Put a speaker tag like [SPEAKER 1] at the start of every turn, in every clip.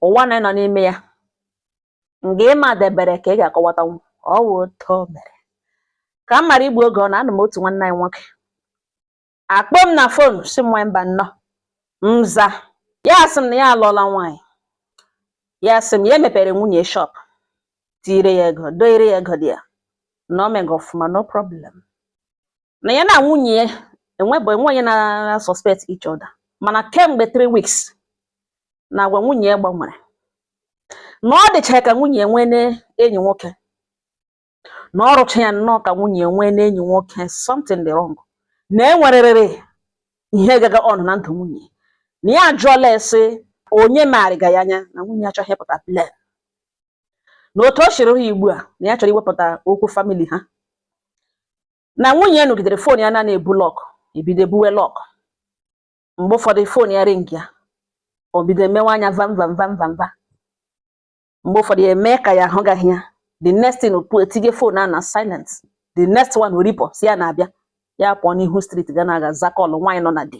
[SPEAKER 1] ụwa na ịnọ n'ime ya nga ịma debere ka ị ga-akọwatanwu ọ wụ otu o mere ka m mara igbu oge ọ na anụ m otu nwanne anyị nwoke akpọ m na fon sị m nwaanyị Mbanọ m za ya asị m na ya alụọla nwaanyị ya asị m ya emepere nwunye shọp tiire ya ego doire ya ego dị ya na o mega ọfụma no problem na ya na nwunye ya enwebụ enwe onye na suspect each other mana kemgbe 3 weeks na agwa nwunye ya gbanwere na ọ dịcha ka nwunye ya nweene enyi nwoke na ọ rịcha ya nnọọ ka nwunye ya nweene enyi nwoke something dị wrong na enwerịrị ihe gaga on na ndụ nwunye na ya ajụọla ase onye marịga ya anya na nwunye achọghị ịpụta plain na otu o siri ha ugbu a na ya chọrọ iwepụta okwu famili ha na nwunye ya nọgidere fon ya na na-ebu lọk ebido ebuwe lọk mgbe ụfọdụ fon ya ringịa o bido emewe anya vam vam vam vam va mgbe ụfọdụ ya emee ka ya ahụgaghị ya the next thing opu etinye fon a na silent the next one oripọ sị ya na-abịa ya pụọ n'ihu street ga na-aga za kọlụ nwaanyị nọ na di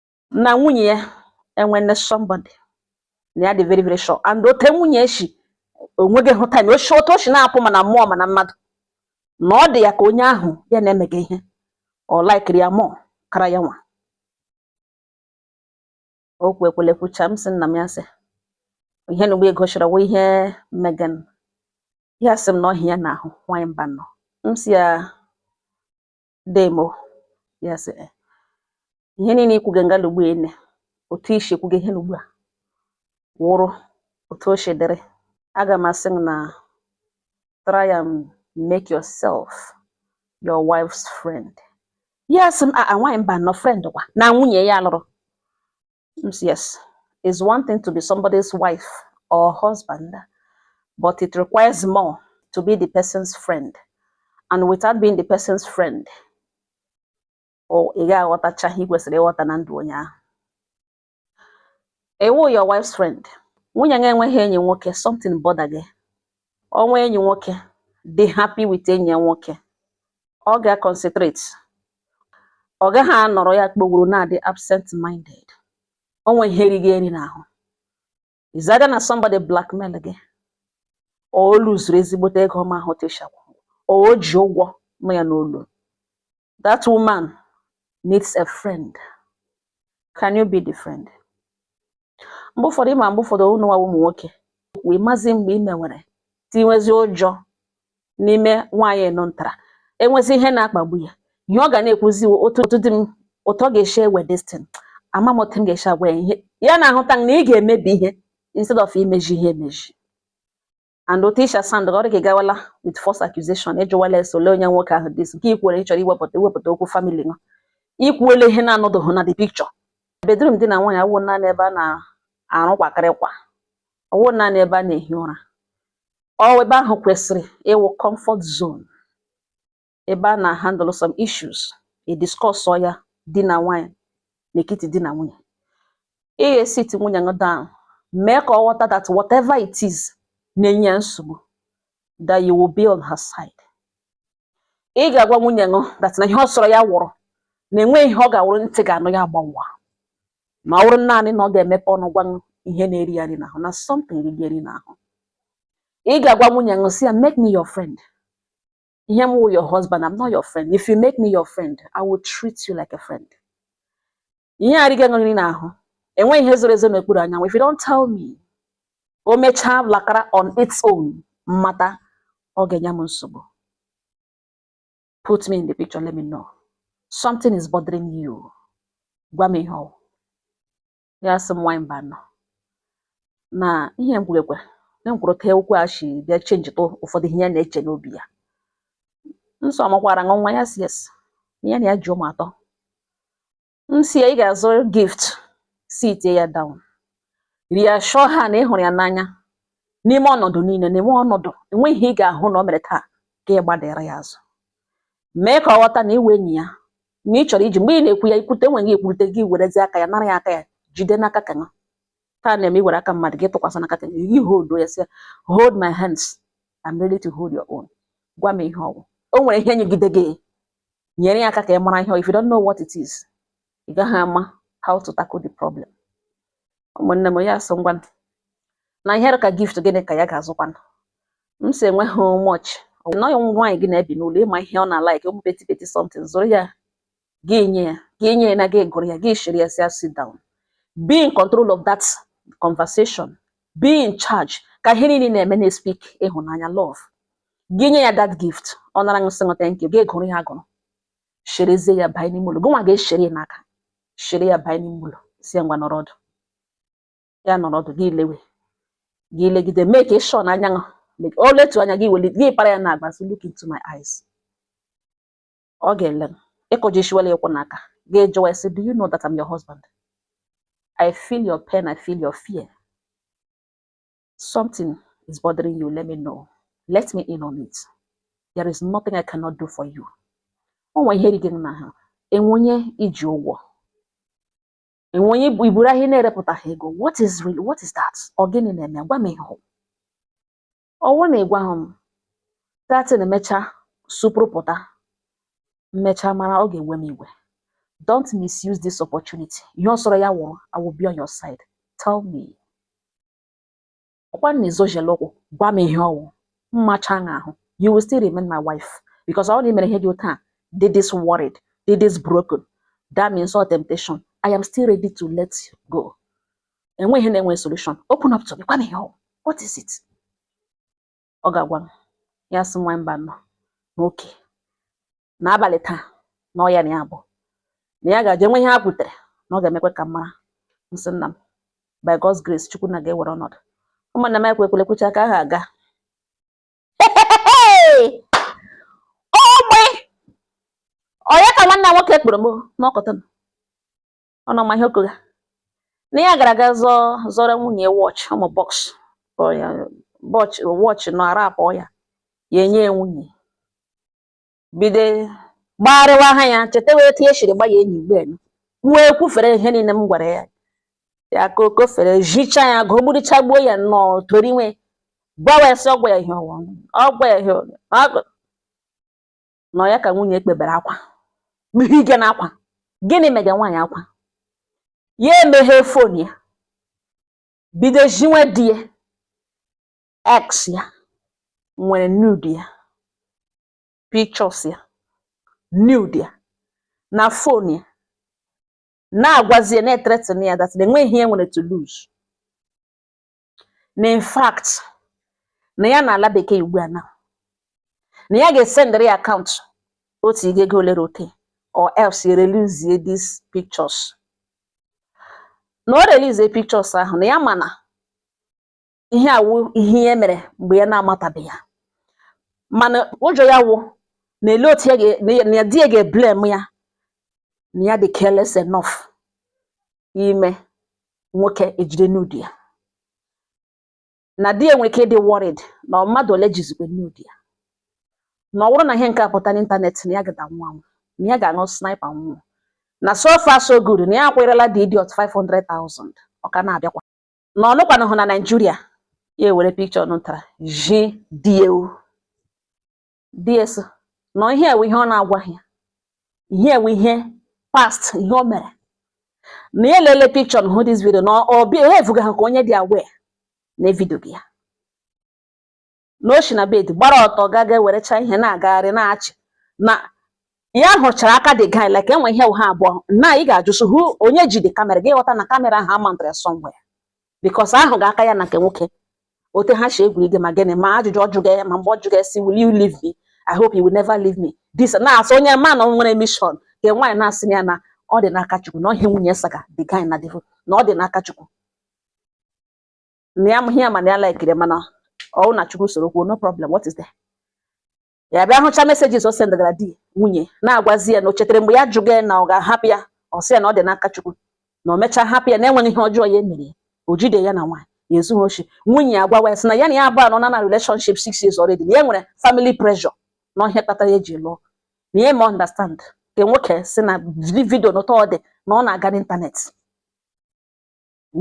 [SPEAKER 1] na nwunye ya enwene somebody na ya dị very very sure and otu nwunye eshi onweghị hụ time o shi otu o shi na-apụ ma na mmụọ ma na mmadụ na ọ dị ya ka onye ahụ ya na-emega ihe ọ laikiri ya mụọ kara ya nwa okwu ekwele kwucha m sị nna m ya sị ihe na ugbu a ị kọchara wụ ihe mega nụ ya sị m na ọ wụ ya na-ahụ nwanyị Mbanọ m sị ya dee m o ya sị eh, ihe niile i kwuge nga nụ ugbu ene otu i shi kwuge ihe nụ ugbu a wụrụ otu o shi dịrị aga m asị na try and make yourself your wife's friend ya sị m a ah, ah, nwaanyị Mbanọ friend kwa na nwunye ya lụrụ Yes, it's one thing to be somebody's wife or husband, but it requires more to be the person's friend. And without being the person's friend, ị ga-aghọtacha ihe i kwesịrị ịghọta na ndụ onye ahụ. Ị wụ your wife's friend. Nwunye gị enweghị enyi nwoke, something botherga ya. O nwee enyi nwoke, dị happy with enyi ya nwoke. ọ ga concentrate ọ gaghị anọrọ ya kpogoro na-adị absent minded o nwe ihe riga ya eri n'ahụ it's either na somebody blackmailga ya or o luzuru ezigbote ego ọma ahụ teshakwa or o ji ụgwọ ma ya n'olu that woman needs a friend can you be the friend mgbe ụfọdụ ịma mgbe ụfọdụ unu nwa wụ ụmụ nwoke wee mazi mgbe i mewere tinwezi ụjọ n'ime nwaanyị unu lụtara enwezi ihe na-akpagbu ya ihe ọ ga na-ekwuzi wụ otu di m ụtọ ga-esi ewe destin ama m otu m ga-esi agwa ya ihe ya na-ahụta na ị ga-emebi ihe instead of imeji ihe emeji and otu i shi asound ọ dị ka ị gawala with false accusation ịjụwala ese ole onye nwoke ahụ dis nke i kwuole ị chọrọ iwepụta okwu family nwa ikwuele ihe na-anọdụghị na the picture bedroom di na nwaanyị awụ naanị ebe a na-arụ kwakịrịkwa awụ naanị ebe a na-ehi ụra ọ wụ ebe ahụ kwesịrị ịwụ comfort zone ebe a na-handle some issues ediscuss ya di na nwaanyị n'etiti di na nwunye ị ga-esit nwunye gị down mee ka ọ ghọta that whatever it is na-enye ya nsogbu that you will be on her side ị ga-agwa nwunye gị that na ihe ọ sọrọ ya wụrụ na enweghị ihe ọ ga-awụrụ ntị ga-anụ ya gbawaa ma ọ bụrụ naanị na ọ ga-emepe ọnụ gwa ihe na-eri ya nri n'ahụ na something ri gị eri n'ahụ ị ga-agwa nwunye gị sị ya make me your friend ihe m wụ your husband I'm not your friend if you make me your friend I will treat you like a friend ihe a ri gị nri n'ahụ enweghị ihe zoro ezo n'okpuru anyanwụ if you don't tell me o mechaa lakara on its own m mata ọ ga-enye m nsogbu put me in the picture let me know something is bothering you gwa m ihe ọ wụ ya sị m nwaanyị mbanụ na ihe m kwurukwa enwere ka okwu a si bịa chenjitụ ụfọdụ ihe ya na-eche n'obi ya m sị ọ mụkwara nwa ya sị yes ya na ya ji ụmụ atọ m sị ya ị ga-azụ gift sit ya down reassure her na ị hụrụ ya n'anya n'ime ọnọdụ niile n'ime ọnọdụ enweghị ihe ị ga-ahụ na o mere taa ka ị gbadara ya azụ mee ka ọ ghọta na ị wụ enyi ya na ị chọrọ iji mgbe ị na-ekwu ya ikwute enweghị ekwurute gị werezi aka ya nara ya aka ya jide n'aka ka na taa na-eme iwere aka mmadụ gị tụkwasị n'aka ka gị hold ya sị hold my hands I'm ready to hold your own gwa m ihe ọ wụ o nwere ihe nyegide gị nyere ya aka ka ị mara ihe if you don't know what it is ị gaghị ama how to tackle the problem ụmụnne m ya sị ngwa na ihe ka gift gịnị ka ya ga-azụkwanụ m sị enwe how much na ọ gị na nwaanyị gị na-ebi n'ụlọ ị ma ihe ọ na-alike ụmụ petty petty something zụrụ ya gị nye ya gị nye ya na gị gụrụ ya gị shere ya sị sit down be in control of that conversation be in charge ka ihe niile na-eme na-espeak ịhụnanya love gị nye ya that gift ọ nara sị gị thank you gị gụrụ ya agụrụ sherezie ya banye n'ime ụlọ gị nwa ga-eshere ya n'aka shere ya banye n'ime ụlọ sị ya ngwa nọrọ ọdụ ya nọrọ ọdụ gị lewe gị legide mee ka ịshọ na anya o letu anya gị weli gị para ya na agba look into my eyes ọ ga-ele ịkụji shiwela ịkwụ n'aka gị jụwa ya sị do you know that I'm your husband I feel your pain I feel your fear something is bothering you let me know let me in on it there is nothing I cannot do for you o nwe ihe dị gị na ha enwe onye i ji ụgwọ enwe onye i buru ahịa na-erepụtaghị ego what is real what is that ọ gịnị na-eme gwa m ihe ọwụ na ị gwahụ m that thing emecha supụrụ pụta m mecha mara ọ ga-ewe m iwe don't misuse this opportunity ihe ọ sọrọ ya wụrụ I will be on your side tell me ọkwa na i zojela ụkwụ gwa m ihe ọwụ m macha na ahụ you will still remain my wife because ọ na i mere ihe dị otu a dị this worried dị this broken that means ọ temptation I am still ready to let go enwe ihe na-enwe solution open up to me gwa m ihe ọwụ what is it ọ ga-agwa m ya sị nwa mba na okay n'abalị taa na ọ ya na ya bụ na ya ga-aje nwe ihe ha kwutere na ọ ga-emekwe ka m mara m sị nna m by God's grace chukwu nna ga-ewere ọnọdụ ụmụnna m ekwe ekwele kwucha ka ha aga ogbe onye ka nwanne nwoke kpọrọ m n'ọkọta unu ma ihe ọ kọga na ya gara aga zụọrọ nwunye ya watch ụmụ box watch nọ ara abụọ ya ya enye ya nwunye bido gbagharịwa ha ya cheta wee tinye shiri gba ya enyi mgbe kwuo ekwufere ihe niile m gwara ya ya ka o kwufere jicha ya gụọ gburichaa gbuo ya nnọọ toriwe gbawa ya sị ọ gwa ya ihe ọwụ ọ gwa ya ihe ọwụ. Ọ gụ- na ọ ya ka nwunye kpebere akwa kpughị ike na akwa gịnị mega nwaanyị akwa ya emeghe fon ya bido zhiwe di ya ex ya nwere nude ya pictures ya nude ya na fon ya na-agwazi ya na-ethreaten ya that na enwe ihe ya nwere to lose na in fact na ya na-ala bekee ugbu a na na ya ga-esendịrị ya akaụntụ otu ị ga-ego olere oke or else ya erelease these pictures na o release pictures ahụ na ya ma na ihe a wụ ihe ya mere mgbe ya na-amatabeghị ya mana ụjọ ya wụ na ele otu ya ga- na ya- na ya di ya ga-eblame ya na ya dị careless enough ime nwoke ejide nude ya na di ya nwere ike ịdị worried na mmadụ ole jizikwe nude ya na ọ bụrụ na ihe nke a pụta n'ịntanetị na ya ga-ada nwụọ nwụọ na ya ga-aṅụ sniper nwụọ na so far so good na ya akwụrịla the idiot 500,000 ọ ka na-abịakwa na ọ nọkwanụhụ na Naịjirịa ya ewere picture nụtara ji di ewu di ya sị na ihe a wụ ihe ọ na-agwaghị ya ihe a wụ ihe past ihe o mere na ya elele picture na hụ this video na o behavegaha ka onye dị aware na e videoga ya na o si na bed gbara ọtọ gaa ga ewerecha ihe na-agagharị na-achị na ya hụchara aka the guy like enwe ihe ha abụọ na ị ga just hụ onye ji the kamera gị ghọta na kamera ahụ a mountara ya somewhere because a hụga aka ya na nke nwoke ote ha si egwurige ma gịnị ma ajụjụ ọ jụga ya ma mgbe ọ jụga ya sị will you leave me i hope you will never leave me this na-asị onye ma na o nwere mission nke nwaanyị na-asị ya na ọ dị n'aka chukwu na ọ ihe nwunye saga the guy na the video na ọ dị n'aka chukwu na ya amaghị ya mana ya likiri mana ọwụ na chukwu soro kwuo no problem what is there ya bịa hụcha messages o sendagara di nwunye na-agwazi ya na o chetara mgbe ya jụga ya na ọ ga-ahapụ ya ọ sị ya na ọ dị n'aka Chukwu na o mechaa hapụ ya na enweghị ihe ọjọọ ya emere ya o jide ya na nwaanyị ya ezughị oshi nwunye ya agwawa ya sị na ya na ya abụọ anọla na relationship six years already na ya nwere family pressure na ọ ihe kpatara ya ji lụọ na ya ma understand ka nwoke sị na vidio n'ụtọ ọ dị na ọ na-aga n'ịntanetị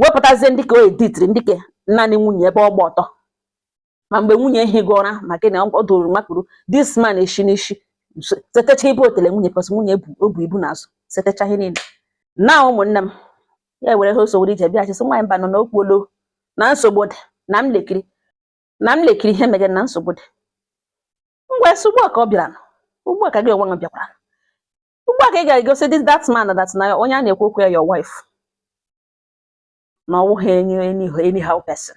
[SPEAKER 1] wepụtazie ndị nke o editiri ndị nke naanị nwunye ebe ọ gba ọtọ ma mgbe nwunye ehiga ụra ma gị na ọ dụrụ makpuru this man eshi n'isi setecha ibe otele nwunye cos nwunye o bu ibu n'azụ setecha ihe niile na ụmụnne m ya were ha ọsọ were ije bịachi sị nwaanyị Mbanọ n'okwu olo na nsogbu dị na m lekiri ihe megere na nsogbu dị m gwa ya sị ugbu a ka ọ bịara ugbu a ka gị nwa bịakwara ugbu a ka ị ga-egosi this that man that na onye a na-ekwu okwu ya your wife na ọ wụghị anyhow person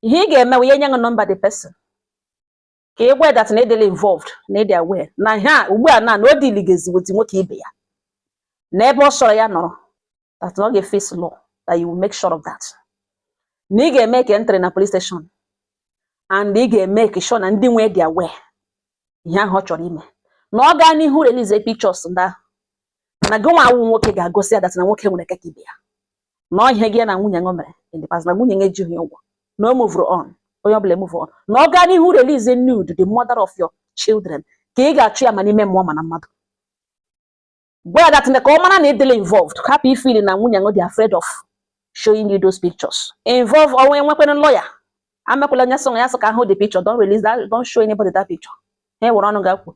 [SPEAKER 1] ihe ị ga-eme wụ ya enye gị nọmba the person ka ị gwa that na ị dịla involved na ị dị aware n'ihe a ugbu a na na o dealigazi with nwoke ibe ya na ebe ọ sọrọ ya nọrọ that ọ ga-eface law that you will make sure of that na ị ga-emake entry na police station and ị ga-emake sure na ndị nwe ya dị aware ihe ahụ ọ chọrọ ime na ọ gaa n'ihu release pictures ndị ahụ na gị nwa awụ nwoke ga-egosi ya that na nwoke nwere ike ka ibe ya na ọ ihe gị na nwunye ṅụ mere in the past na nwunye ṅụ ejighị ụgwọ na o move on onye ọbụla move on na ọ gaa n'ihu release nude the mother of your children ka ị ga-achụ ya ma n'ime mmụọ ma na mmadụ gwa ya that ka ọ mara na ị dịla involved hapụ ifili na nwunye ṅụ dị afraid of showing you those pictures involve ọnwa enwekwere lawyer amekwala onye sọ ya sọ ka ahụ the picture don't release that don't show anybody that picture ha were ọnụ ga-akwu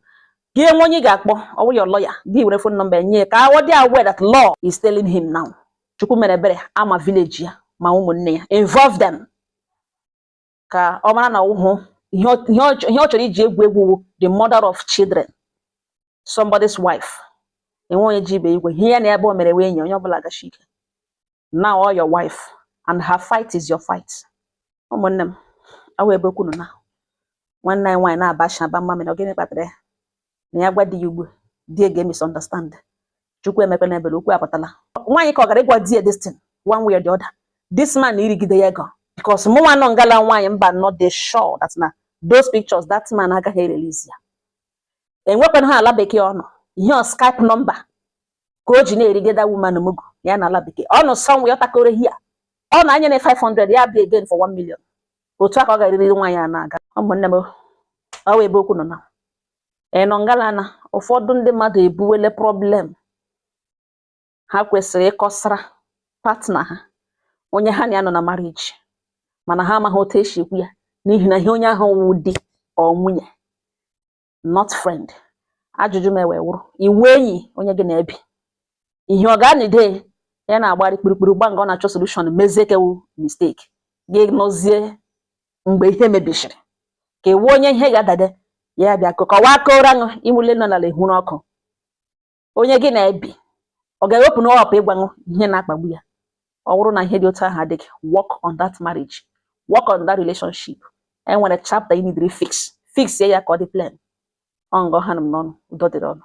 [SPEAKER 1] gị enwe onye ga-akpọ ọ wụ your lawyer gị were phone number nye ka ọ dị aware that law is telling him now chukwu mere ebere a ma village ya ma ụmụnne ya involve them ka ọ mara na ọ wụhụ ihe ọ- ihe ọ chọ- ihe ọ chọrọ iji egwu egwu wụ the mother of children somebody's wife enwe onye ji ibe igwe ihe ya na ebe o mere wee nye onye ọbụla gachi ike now all your wife and her fight is your fight ụmụnne m ọ wụ ebe okwu nọ na nwanne anyị nwaanyị na-abacha aba mma mere ọ gịnị kpatara ya na ya gwa di ya ugbu di ya ga-emisunderstand chukwu emekwana ebere okwu apụtala nwaanyị ka ọ gara ịgwa di ya this thing one way or the other this man erigide ya ego because mụ nwa nọ ngala nwaanyị mba nọ dị sure that na those pictures that man agaghị erelizi ya enwekwara ha ala bekee ọ nọ ihe ọ skype number ka o ji na-erigide that woman mugu ya na ala bekee ọ nọ somewhere ọ takoro here ọ na anya na 500 ya bịa again for 1 million otu a ka ọ ga-eriri nwaanyị a na-aga ụmụnne m ọ wụ ebe okwu nọ na ị nọ e, ngala na ụfọdụ ndị mmadụ ebuwele problem ha kwesịrị ịkọsara partner ha onye ha na ya nọ na marriage mana ha amaghị otu e si ekwu ya n'ihi na ihe onye ahụ wụ di or nwunye not friend ajụjụ m wee wụrụ ị wụ enyi onye gị na-ebi ihe ọ ga-anide ya na-agbari kpirikpiri gba nga ọ na-achọ solution mezie ke wụ mistake gị nọzie mgbe ihe mebisiri ka ị wụ onye ihe ga-adade ya bịa kọwaa kọọrọ ṅụ imụle nọ n'ala ehuru ọkụ onye gị na-ebi ọ ga-ewepụ na ọ hapụ ịgwa ṅụ ihe na-akpagbu ya ọ bụrụ na ihe dị otu ahụ adịghị work on that marriage work on that relationship e nwere chapter you need to fix fix ya ka ọ dị plain ọ ngọ ha m n'ọnụ udo dịrị ọnụ